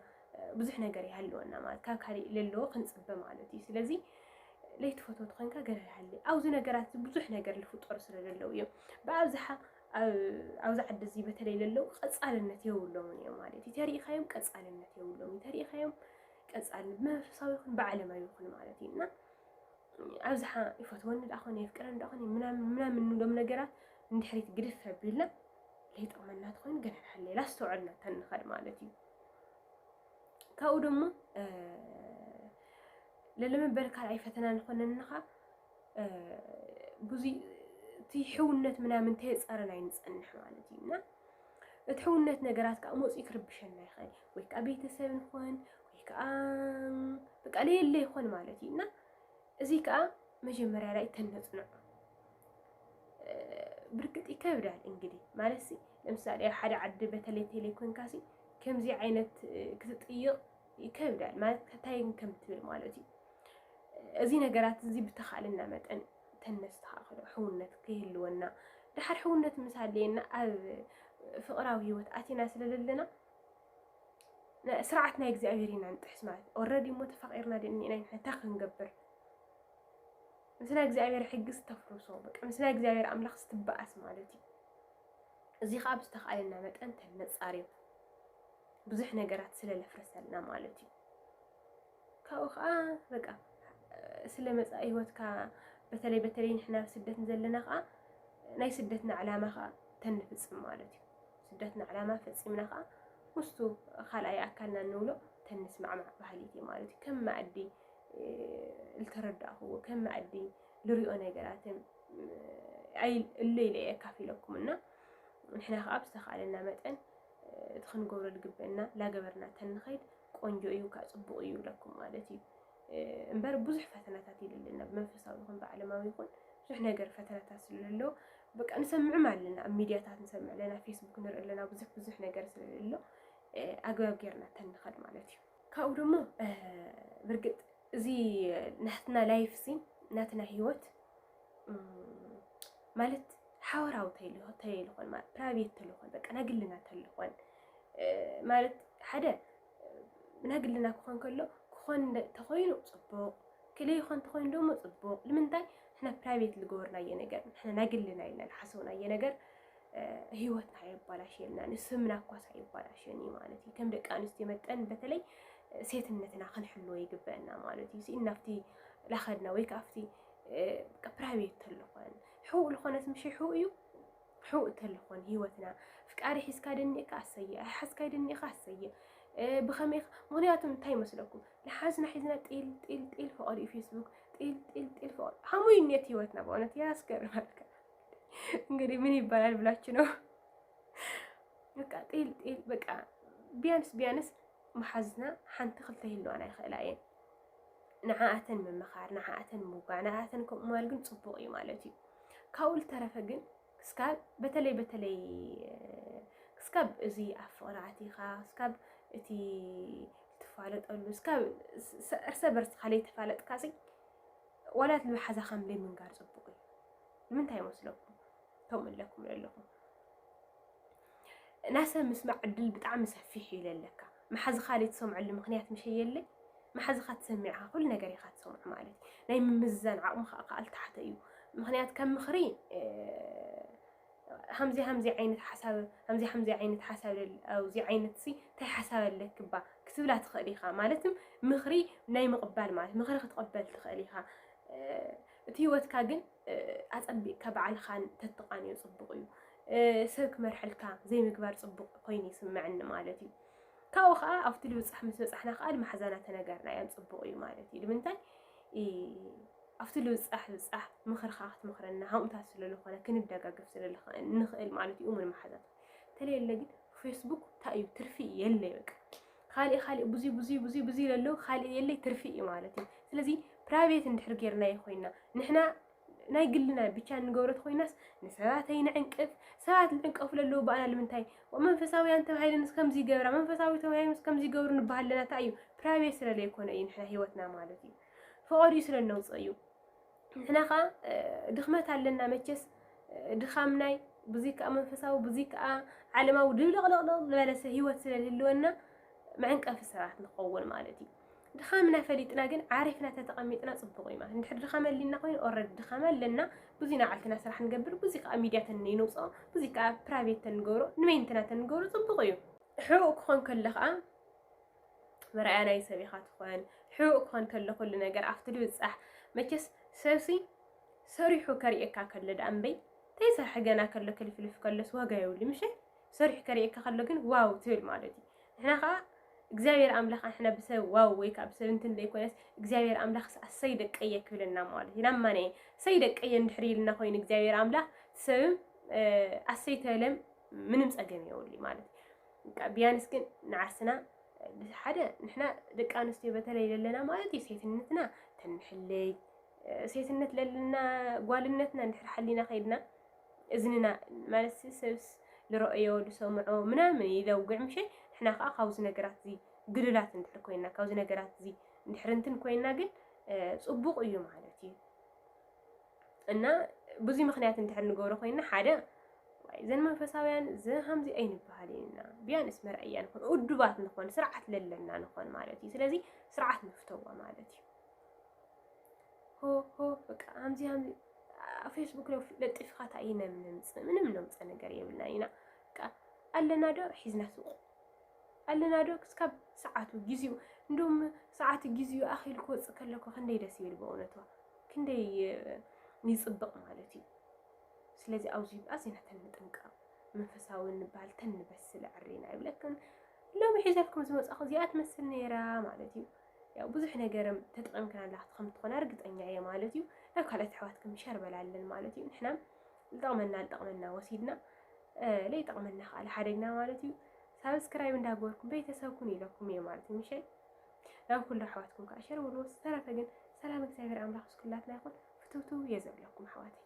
ብዙሕ ነገር ይሃልወና ማለት ካብ ካሊእ ለለዎ ክንፅበ ማለት እዩ። ስለዚ ለይትፈትወት ኮንካ ገለ ይሃሊ ኣብዚ ነገራት ብዙሕ ነገር ዝፍጠሩ ስለ ዘለዉ እዮም ብኣብዝሓ ኣብዛ ዓዲ እዚ በተለይ ለለው ቀፃልነት የብሎምን እዮም ማለት እዩ ተሪኢኻዮም ቀፃልነት የብሎም እዩ ተሪኢኻዮም ቀፃልነት ብመንፈሳዊ ይኹን ብዓለማዊ ይኹን ማለት እዩ እና ኣብዝሓ ይፈትወኒ ዳኣ ኮነ የፍቅረኒ ዳኣ ኮነ ምናምን ንብሎም ነገራት እንድሕሪት ግድፍ ኣቢልና ለይጠቕመና ትኾይኑ ገና ንሓለየ ላስተውዕልና ተንኸድ ማለት እዩ ካብኡ ደሞ ለለመበል ካልኣይ ፈተና ንኾነንኻ ብዙይ እቲ ሕውነት ምናምን ተየፃረን ኣይንፀንሕ ማለት እዩ እና እቲ ሕውነት ነገራት ከዓ መፅኡ ክርብሸና ይኽእል ወይ ከዓ ቤተሰብ ንኾን ወይ ከዓ በቃ ለየለ ይኾን ማለት እዩ እና እዚ ከዓ መጀመሪያ ላይ ተነፅንዑ ብርግጥ ይከብዳል እንግዲህ ማለት ለምሳሌ ኣብ ሓደ ዓዲ በተለይ ቴሌኮንካሲ ከምዚ ዓይነት ክትጥይቕ ይከብዳል ማለት ከታይ ከም ትብል ማለት እዩ እዚ ነገራት እዚ ብተኻእለና መጠን ተነስተኻኽሎ ሕውነት ከይህልወና ድሓር ሕውነት ምስ ኣለየና ኣብ ፍቕራዊ ህይወት ኣቲና ስለዘለና ስርዓት ናይ እግዚኣብሔር ኢና ንጥሕስ ማለት ኦረዲ እሞ ተፋቂርና ድእኒና ንሕታ ክንገብር ምስ ናይ እግዚኣብሔር ሕጊ ዝተፍርሶ በቃ ምስ ናይ እግዚኣብሔር ኣምላኽ ስትበኣስ ማለት እዩ እዚ ከዓ ብዝተኻእለና መጠን ተነፃርዮ ብዙሕ ነገራት ስለ ለፍረሰልና ማለት እዩ። ካብኡ ከዓ በቃ ስለ መፃኢ ህይወትካ በተለይ በተለይ ንሕና ኣብ ስደት ዘለና ከዓ ናይ ስደትና ዕላማ ከዓ ተንፍፅም ማለት እዩ። ስደትና ዕላማ ፈፂምና ከዓ ምስቱ ካልኣይ ኣካልና እንብሎ ተንስማዕማዕ ባህሊት እዩ ማለት እዩ። ከም መኣዲ ዝተረዳእኹዎ ከም መኣዲ ልሪኦ ነገራትን እለይ ኢለ ኣካፊለኩም እና ንሕና ከዓ ብዝተኻእለና መጠን እቲ ክንገብሮ ዝግበእና ላገበርና ተንኸይድ ቆንጆ እዩ ካእ ፅቡቅ እዩ ይብለኩም ማለት እዩ እምበር ብዙሕ ፈተናታት ይልልና ብመንፈሳዊ ይኹን ብዓለማዊ ይኹን ብዙሕ ነገር ፈተናታት ስለሎ በቃ ንሰምዕም ኣለና ኣብ ሚድያታት ንሰምዕ ኣለና ፌስቡክ ንርኢ ኣለና ብዙሕ ብዙሕ ነገር ስለሎ ኣግባብ ጌርና ተንኸድ ማለት እዩ ካብኡ ደሞ ብርግጥ እዚ ናትና ላይፍ ሲ ናትና ሂወት ማለት ሓወራዊ ተይልኾን ማለት ፕራይቬት ተልኾን በቃ ናይ ግልና ተልኾን ማለት ሓደ ናይ ግልና ክኾን ከሎ ክኾን ተኾይኑ ፅቡቕ ክልይ ይኾን ተኾይኑ ደሞ ፅቡቕ ንምንታይ ሕና ፕራይቬት ዝገበርናዮ ነገር ሕና ናይ ግልና ኢልና ዝሓሰብናዮ ነገር ህይወትና የባላሽየልና ንስምና ኳስ ኣይባላሽየን እዩ ማለት እዩ ከም ደቂ ኣንስትዮ መጠን በተለይ ሴትነትና ክንሕልዎ ይግበአና ማለት እዩ ናብቲ ላኸድና ወይ ከኣፍቲ ፕራይቬት ተለኾን ሕውእ ልኾነት ምሸ ሕው እዩ ሕውእ ተለኾን ህይወትና ፍቃሪ ሒዝካ ደኒእካ ኣሰየ ኣይሓዝካይ ደኒእካ ኣሰየ ብኸመይ ምክንያቱ እንታይ ይመስለኩም ንሓዝና ሒዝና ጢል ጢል ጢል ፈቐዱ እዩ ፌስቡክ ጢል ጢል ጢል ፈቐዱ ከምኡ እዩ ኔት ህይወትና በእውነት ያስገርማልካ እንግዲህ ምን ይባላል ብላችሁ ነው በቃ ጢል ጢል በቃ ቢያንስ ቢያንስ መሓዝና ሓንቲ ክልተ ይህልዋና ይኽእላ እየን ንዓኣተን ምምኻር፣ ንዓኣተን ምውጋዕ፣ ንዓኣተን ከምኡ ምባል ግን ፅቡቕ እዩ ማለት እዩ። ካብኡ ዝተረፈ ግን ክስካብ በተለይ በተለይ ክስካብ እዚ ኣብ ፍቕሪ ኣቲኻ ክስካብ እቲ ትፋለጠሉ እስካብ እርሰ በርስኻ ለይተፋለጥካ ሲ ዋላ ልቢ ሓዛኻ ምለይ ምንጋር ፅቡቕ እዩ። ንምንታይ ይመስለኩም ከምኡ ኣለኩም ኣለኹም ናይ ሰብ ምስማዕ ዕድል ብጣዕሚ ሰፊሕ እዩ ለለካ መሓዝኻ ዘይትሰምዐሉ ምክንያት ምሸ የለ መሓዝኻ ትሰሚዕኻ ኩሉ ነገር ኢኻ ትሰምዑ ማለት እዩ ናይ ምምዝዛን ዓቕሚ ከዓ ከኣል ታሕተ እዩ ምክንያት ከም ምኽሪ ሃምዚ ሃምዚ ዓይነት ሓሳብ ሃምዚ ሃምዚ ዓይነት ሓሳብ ኣብዚ ዓይነት ሲ እንታይ ሓሳብ ኣለክባ ክትብላ ትኽእል ኢኻ ማለት ምኽሪ ናይ ምቕባል ማለት ምኽሪ ክትቕበል ትኽእል ኢኻ እቲ ህይወትካ ግን ኣጸቢቕካ በዓልኻን ተትቓንዮ ጽቡቕ እዩ ሰብ ክመርሐልካ ዘይምግባር ጽቡቕ ኮይኑ ይስመዐኒ ማለት እዩ ካብኡ ከዓ ኣብቲ ልብፃሕ ምስ በፃሕና ከዓ ማሕዛና ተነገርና እዮም ፅቡቅ እዩ ማለት እዩ ንምንታይ ኣብቲ ልብፃሕ ብፃሕ ምኽርካ ክትምኽረና ሃምታት ስለዝኾነ ክንደጋገፍ ስለንኽእል ማለት እዩ እሙን ማሓዛት ተለየለ ግን ፌስቡክ እንታይ እዩ ትርፊ የለ በቃ ካልእ ካልእ ብዙ ብዙ ብዙ ብዙ ለሎ ካልእ የለ ትርፊ እዩ ማለት እዩ ስለዚ ፕራይቬት እንድሕር ጌርና ይኮይና ንሕና ናይ ግልና ብቻ እንገብሮ ተኾይናስ ንሰባት ኣይንዕንቅፍ። ሰባት ዝዕንቀፉ ለለዉ ባእና ልምንታይ መንፈሳውያን ተባሂለንስ ከምዚ ይገብራ መንፈሳዊ ተባሂሎምስ ከምዚ ይገብሩ ንበሃል ኣለና እንታይ እዩ ፕራይቬት ስለ ለይኮነ እዩ ንሕና ሂወትና ማለት እዩ ፈቐድኡ ስለ ነውፅእ እዩ ንሕና ከዓ ድኽመት ኣለና መቸስ ድኻም ናይ ብዙ ከዓ መንፈሳዊ ብዙ ከዓ ዓለማዊ ድብልቕልቕልቕ ዝበለሰ ሂወት ስለ ዝህልወና መዕንቀፊ ሰባት ንኸውን ማለት እዩ ድኻምና ፈሊጥና ግን ዓሪፍና ተተቐሚጥና ጽቡቕ እዩ ማለት እንድሕር ድኻም ኣሊና ኮይኑ ኦልሬዲ ድኻም ኣለና ብዙይ ናዓልትና ስራሕ ንገብር ብዙይ ከዓ ሚድያ ተንይንውፅኦ ብዙይ ከዓ ፕራይቬት ተንገብሮ ንመይንትና ተንገብሮ ጽቡቕ እዩ ሕቡእ ክኾን ከሎ ከዓ መርኣያ ናይ ሰብ ኢኻ ትኾን ሕቡእ ክኾን ከሎ ኩሉ ነገር ኣብቲ ድብፃሕ መቸስ ሰብሲ ሰሪሑ ከርእየካ ከሎ ደኣ እምበይ ተይሰርሐ ገና ከሎ ክልፍልፍ ከሎስ ዋጋ የብሉ ምሸ ሰሪሑ ከርእየካ ከሎ ግን ዋው ትብል ማለት እዩ ንሕና ከኣ እግዚኣብሔር ኣምላኽ ኣንሕና ብሰብ ዋው ወይ ከዓ ብሰብ እንትን ዘይኮነስ እግዚኣብሔር ኣምላኽስ ኣሰይ ደቀየ ክብለና ማለት እዩ ናብ ማነ ሰይ ደቀየ እንድሕር ኢልና ኮይኑ እግዚኣብሔር ኣምላኽ ሰብም ኣሰይ ተበለም ምንም ጸገም የውልዩ ማለት እዩ ቢያንስ ግን ንዓርስና ሓደ ንሕና ደቂ ኣንስትዮ በተለይ ለለና ማለት እዩ ሴትነትና ተንሕለይ ሴትነት ለለና ጓልነትና እንድሕር ሓሊና ከይድና እዝንና ማለትሲ ሰብስ ልረኦዮ ልሰምዖ ምናምን ይለውግዕ ምሸይ ንሕና ከኣ ካብዚ ነገራትዚ ግሉላት እንድሕር ኮይና ካብዚ ነገራትዚ እንድሕር እንትን ኮይና ግን ጽቡቕ እዩ ማለት እዩ እና ብዙይ ምክንያት እንድሕር ንገብሮ ኮይና ሓደ እዘን መንፈሳውያን ዝሃምዚ ኣይንበሃል ኢና ቢያንስ መርኣያ ንኾን ውዱባት ንኾን ስርዓት ለለና ንኾን ማለት እዩ ስለዚ ስርዓት ንፍተዎ ማለት እዩ ሆ ሆ በቃ ኣምዚ ኣምዚ ፌስቡክ ዶ ለጢፍካ እንታይ እዩ ነምንምፅ ምንም ነምፀ ነገር የብልና ኢና በቃ ኣለና ዶ ሒዝና ስቁ ኣለና ዶ ክስካብ ሰዓቱ ግዜኡ እንዶም ሰዓት ግዜኡ ኣኺሉ ክወፅእ ከለኩ ክንደይ ደስ ይብል ብእውነቱ ክንደይ ይፅብቕ ማለት እዩ ስለዚ ኣብዚ ኣዚና ተንጥንቀቕ መንፈሳዊ ንበሃል ተንበስል ዕሪና ይብለክን ሎሚ ሒዘልኩም ዝመፅኹ እዚኣ ትመስል ነይራ ማለት እዩ ያው ብዙሕ ነገርም ተጠቒምክን ኣላ ክትኸም ትኾና ርግጠኛ እየ ማለት እዩ ናብ ካልኦት ኣሕዋትክም ሸር በላለን ማለት እዩ ንሕና ዝጠቕመና ዝጠቕመና ወሲድና ለይጠቕመና ከዓ ሓደግና ማለት እዩ ሳብስክራይብ እንዳገበርኩም ቤተሰብኩን ኢለኩም እየ ማለት እዩ ምሸል ናብ ኩሉ ኣሕዋትኩም ከዓ ሸር በልዎ ዝተረፈ ግን ሰላም እግዚኣብሔር ኣምላኽ ስኩላትና ይኹን ፍትውትው እየ ዘብለኩም ኣሕዋተይ